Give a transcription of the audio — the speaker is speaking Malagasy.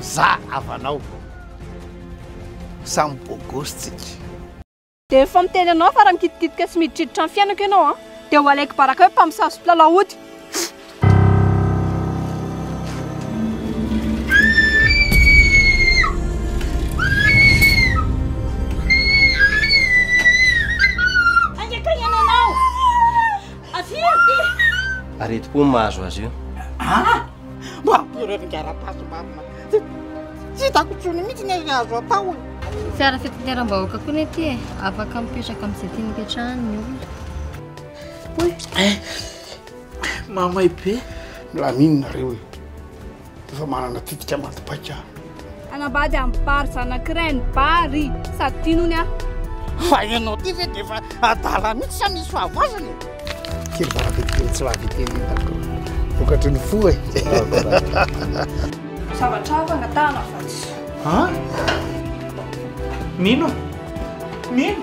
Za havanao vao. Samy bôgôsy tsika. Dia efa miteny anao fa raha mikitikitika sy miditriditra ny fiainako ianao an, dia ho alaiky baraka hoe mpamosavy sy mpilalao ody. Avia aty! Aretim-po no mahazo azy io. Ah! Mampireo ny gara-paso marina. Tsy hitako intsony mihitsy ny azo atao e. Fiara fitateram-bahoaka koa ny aty e. Afaka mipetraka amin'izay tiany hipetrahany ny olona. Oy! Mahamay be. Milaminina reo e. Dia efa manana tetika maty paika aho. Hanambady amin'ny bary zanakiray ny bary. Sady tiany hono aho. Fa ianao ity ve dia efa adala mihitsy sa misy fahavoazana e? Kely varabe kely tsy lavy kely hitako. Vokatry ny fo e. Zavatra hafa angatahana fa tsy. Ha? Mino? Mino?